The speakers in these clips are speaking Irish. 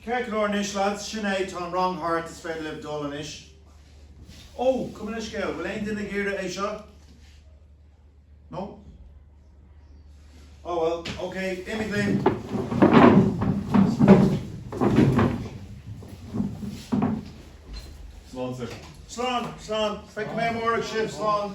Ceart go leor anois lads? Sin é, tá an rang thart, is féidir libh dul anois. Ó, dála an scéil, bhfuil aon duine ag iarraidh é seo? No? Oh well, ok, imígí libh! Slán sir. Slán, slán, feicfidh mé amárach sibh, slán!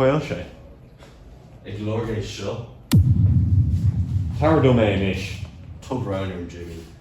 Caol sé. Ag lorg é seo. Tabhair dom é anois. Turn around, Jimmy.